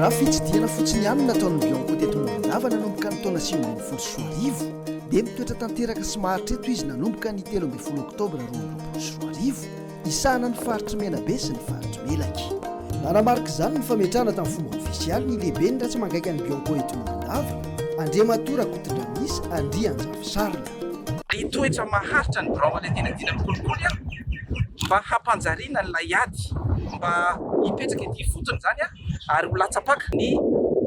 Raha fitsidihana fotsiny ihany no nataon'ny Bianco teto Morondava nanomboka ny taona sivy ambin'ny folo sy roa arivo, dia mitoetra tanteraka sy maharitra eto izy nanomboka ny telo ambin'ny folo oktobra roa amby roapolo sy roa arivo, hisahana ny faritr'i Menabe sy ny faritr'i Melaky. Nanamarika izany ny fametrahana tamin'ny fomba ofisialy ny lehiben'ny ratsemangaika an'ny Bianco eto Morondava, Andriamatoa Rakotondranisa Andrianjafisarina. Ny toetra maharitra ny birao manadina dina ny kolikoly an! mba hampanjariana ilay ady mba hipetraka ety ifotony izany an! ary ho latsa-paka ny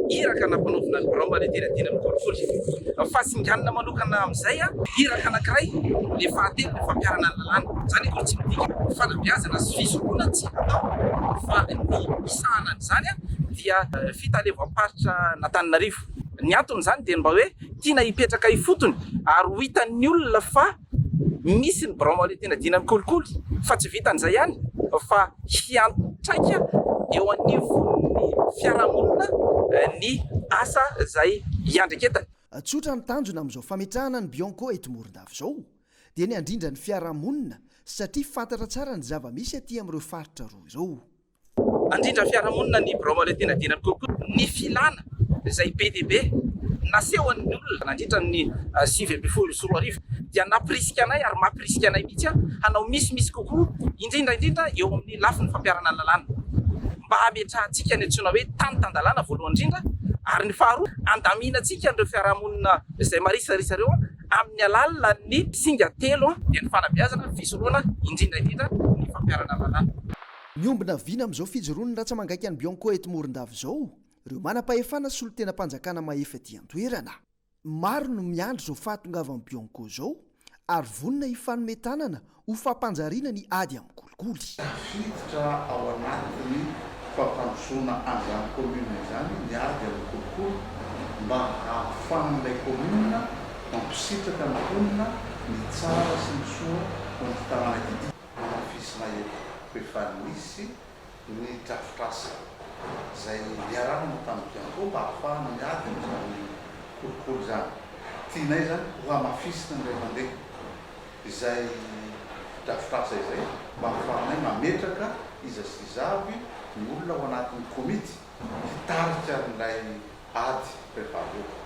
iraka nampanaovina ny birao manadina dina ny kolikoly. Fa singanina manokana amin'izay an! Iraka anankiray le fahatelo ny fampiharana ny lalàna. Izany akory tsy midika fanabeazana sy fizoroana tsy hatao fa ny hisahana an'izany an! dia fitaleovam-paritra an'Antananarivo. Ny anton'izany dia ny mba hoe tiana hipetraka ifotony ary ho hitan'ny olona fa misy ny birao maonetinadiana ny kolikoly fa tsy vitan'izay ihany fa hiantraika eo anivon'ny fiarahamonina ny asa izay hiandreketany. Tsotra ny tanjona amin'izao fametrahana ny Bianco eto Morondava izao dia ny handrindra ny fiarahamonina satria fantatra tsara ny zava-misy aty amin'ireo faritra roa ireo. Handrindra fiarahamonina ny birao mahaleo tena dieny amin'ny kolikoly ny filana izay be dia be nasehon'ny olona nandritra ny sivy ambin'ny folo sy roa arivo dia nampirisika anay ary mampirisika anay mihitsy hanao misimisy kokoa indrindra indrindra eo amin'ny lafiny fampiharana lalàna mba hametrahantsika ny antsoina hoe tany tan-dalàna voalohany indrindra ary ny faharoa handaminantsika an'ireo fiarahamonina izay marisarisa ireo amin'ny alalan'ny singa telo dia ny fanabeazana, ny fisorohana indrindra indrindra ny fampiharana lalàna. Miombona vina amin'izao fijoroan'ny ratsa-mangaika an'i Bianco eto Morondava izao ireo manam-pahefana solontenam-panjakana mahefa ety an-toerana. Maro no miandry izao fahatongavan'i Bianco izao ary vonona hifanome tanana ho fampanjariana ny ady amin'ny kolikoly. Tafiditra ao anatin'ny fampandrosoana an'izany kaominina izany ny ady amin'ny kolikoly mba hahafahan'ilay kaominina mampisitraka ny mponina ny tsara sy ny soa ho an'ity tanàna ity. Anafisina eto rehefa nisy ny drafitrasa izay niharanana tamin'ny Bianco mba hahafahana miady amin'izany kolikoly izany. Tianay izany ho hamafisina ny iray mandeha izay drafitrasa izay mba hahafahanay mametraka iza sy iza avy ny olona ao anatin'ny komity hitarika an'ilay Ady, préparez-vous.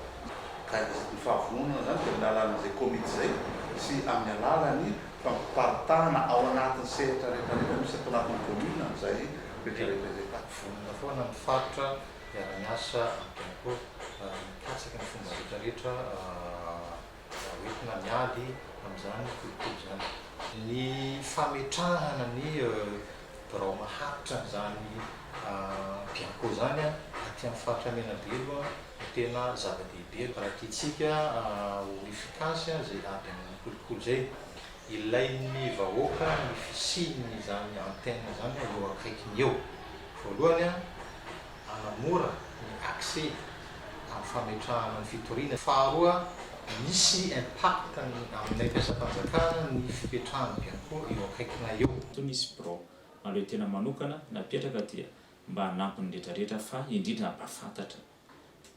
Ka ny fahavononana izany dia amin'ny alalan'izay komity izay sy amin'ny alalan'ny fampiparitahana ao anatin'ny sehatra rehetrarehetra misy ato anatin'ny commune an'izay rehetrarehetra izay. Vonona foana ny faritra hiara-miasa amiko mikatsaka ny fomba rehetrarehetra. raha hoentina miady amin'izany kolikoly izany. Ny fametrahana ny birao maharitra an'izany Bianco izany aty amin'ny faritra Menabe aloha no tena zava-dehibe raha tiantsika ho efficace izay ady amin'ny kolikoly izay. Ilain'ny vahoaka ny fisian'izany antenne izany eo akaikiny eo, voalohany. hanamora ny accès amin'ny fametrahana ny fitoriana. Faharoa, misy impact aminay mpiasam-panjakana ny fipetrahan'ny Bianco eo akaikinay eo. Toa misy birao mahaleo tena manokana napetraka dia mba hanampy ny rehetra rehetra fa indrindra hampahafantatra.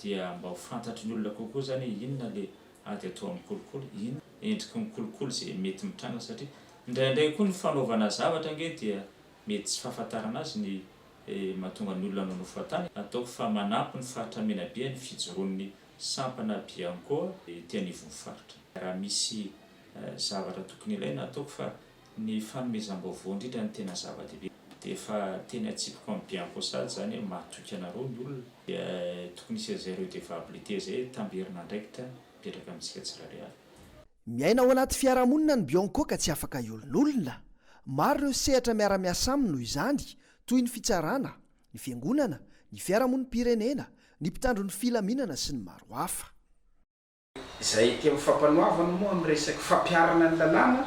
Dia mba ho fantatry ny olona kokoa izany hoe inona ilay ady atao amin'ny kolikoly, inona endriky ny kolikoly izay mety mitranga satria indraindray koa ny fanaovana zavatra ange dia mety tsy fahafantarana azy ny. dia mahatonga ny olona hanonofy fahatany. Ataoko fa manampy ny faritra Menabe ny fijoroan'ny sampana Bianco ety anivon'ny faritra. Raha misy zavatra tokony ilaina, ataoko fa ny fanomezam-baovao indrindra no tena zava-dehibe. Dia efa teny an-tsipiko amin'ny Bianco sahady izany hoe mahatoky anareo ny olona, dia tokony hisy an'izay redevabilité izay tamberin'andraikitra mipetraka amintsika tsirairay avy. Miaina ao anaty fiarahamonina ny Bianco ka tsy afaka hiolonolona. Maro ireo sehatra miara-miasa aminy noho izany, toy ny fitsarana, ny fiangonana, ny fiarahamonim-pirenena, ny mpitandro ny filaminana sy ny maro hafa. Izay ety amin'ny fampanoavana moa amin'ny resaky fampiharana ny lalàna,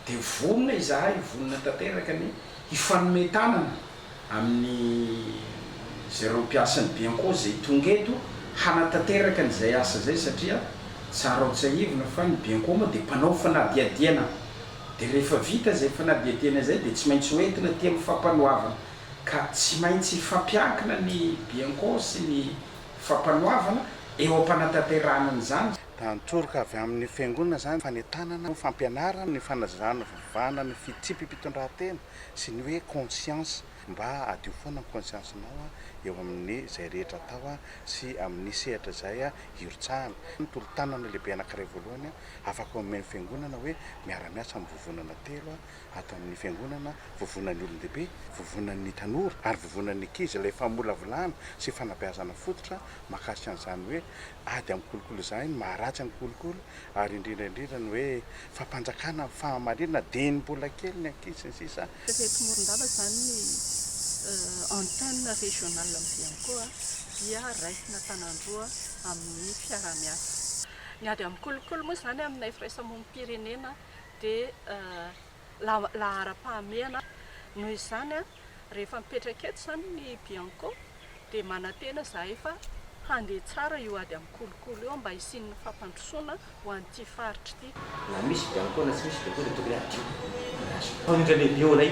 dia vonona izahay, vonona tanteraka ny hifanome tanana amin'ny izay ireo mpiasan'ny Bianco izay tonga eto hanatanteraka an'izay asa izay satria tsara ho tsahivina fa ny Bianco moa dia mpanao fanadihadiana dia rehefa vita izay fanadihadiana izay dia tsy maintsy ho entina aty amin'ny fampanoavana ka tsy maintsy hifampiankina ny Bianco sy ny fampanoavana eo am-panatanterahana an'izany Raha nitoroka avy amin'ny Fiangonana izany, fanentanana ny fampianarana, ny fanazavana, fivavahana, ny fitsipi-pitondran-tena sy ny hoe conscience, mba hadio foana ny conscience-nao eo amin'ny izay rehetra atao sy amin'ny sehatra izay hirotsahana. Ny tolo-tanana lehibe anankiray voalohany afaka omen'ny Fiangonana hoe miara-miasa amin'ny vovonana telo ato amin'ny Fiangonana, vovonan'ny olon-dehibe, vovonan'ny tanora ary vovonan'ny ankizy ilay famolavolana sy fanabeazana fototra mahakasika an'izany hoe ady amin'ny kolikoly izany, ny maharatsy ny kolikoly ary indrindra indrindra ny hoe fampanjakana amin'ny fahamarinana dieny mbola kely ny ankizy sy ny sisa. Ireto Morondava izany ny antenne régionale ny Vianco dia raisina tanandroa amin'ny fiaraha-miasa. Ny ady amin'ny kolikoly moa izany aminay firaisambomim-pirenena dia laharam-pahamehana noho izany rehefa mipetraka eto izany ny bianco dia manantena izahay fa handeha tsara io ady amin'ny kolikoly io mba hisian'ny fampandrosoana ho an'ity faritra ity. Na misy bianco na tsy misy bianco dia tokony hadio ny hazo. Mpamindra lehibe ao anay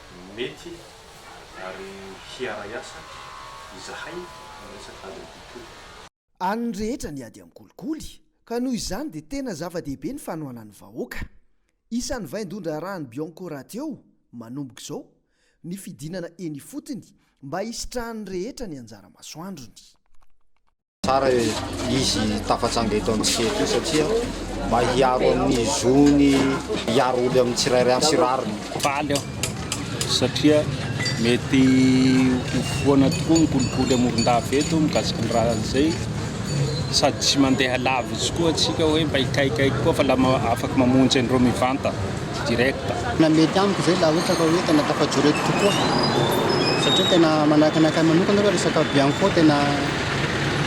Mety ary hiaray asa izahay amin'ny resaka ady an-kolikoly. An'ny rehetra ny ady an-kolikoly ka noho izany dia tena zava-dehibe ny fanohanan'ny vahoaka. Isan'ny vaindohan-draharahan'ny Bianco rahateo, manomboka izao, ny fidinana eny ifotony mba hisitrahan'ny rehetra ny anjara masoandrony. Tsara izy tafatsanga eto amintsika eto satria mba hiaro amin'ny zony hiaro oly amin'ny tsirairay amin'ny sy rariny. Faly aho satria mety ho foana tokoa ny kolikoly amoron-dava eto mikasika ny raha izay sady tsy mandeha lavitsy koa antsika hoe mba hikaikaika koa fa lama afaka mamonjy an'ireo mivantana. direct. Tena mety amiko zay la ohatra ka hoe tena tafajoreko tokoa satria tena manahaka ny anakahy manokana aloha resaka bianco tena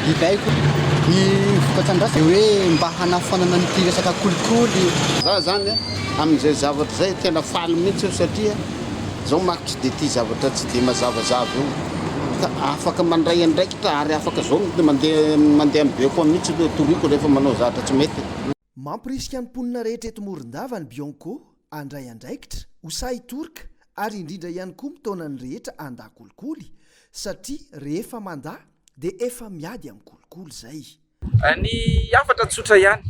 biby aiko ny vokatsandrasana de hoe mba hanafoanana an'ity resaka kolikoly Za zany amin'izay zavatra zay tena faly mihitsy aho satria zao manko tsy de tia zavatra tsy de mazavazava io ka afaka mandray andraikitra ary afaka zao mandeha mandeha mibekoa mihitsy aloha toriko rehefa manao zahatra tsy mety. Mampirisika ny mponina rehetra eto Morondava ny Bionco handray andraikitra, ho sahy hitorika ary indrindra ihany koa mitaona ny rehetra handà kolikoly satria rehefa mandà dia efa miady amin'ny kolikoly izay. Ny hafatra tsotra ihany,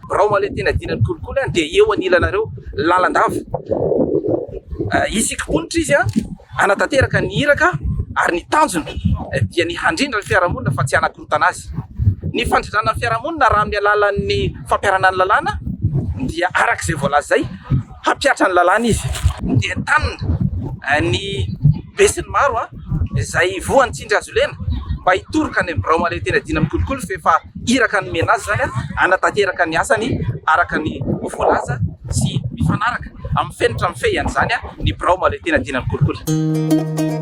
birao malentena iadiana ny kolikoly dia eo anilanareo lalandava. Isika mponitra izy hanatanteraka ny iraka ary ny tanjona dia ny handrindra ny fiarahamonina fa tsy hanakorontanina. fivarotana azy. Ny fandrindrana ny fiarahamonina raha amin'ny alalan'ny fampiharana ny lalàna dia araka izay voalazay, hampihatra ny lalàna izy dia entanina ny besinimaro izay voan'ny tsindry hazolena mba hitoroka any amin'ny birao mahaleotena dina amin'ny kolikoly f'efa iraka nomena azy izany hanatanteraka ny asany araka ny voalaza sy mifanaraka amin'ny fenitra mifehy an'izany ny birao mahaleotena dina amin'ny kolikoly.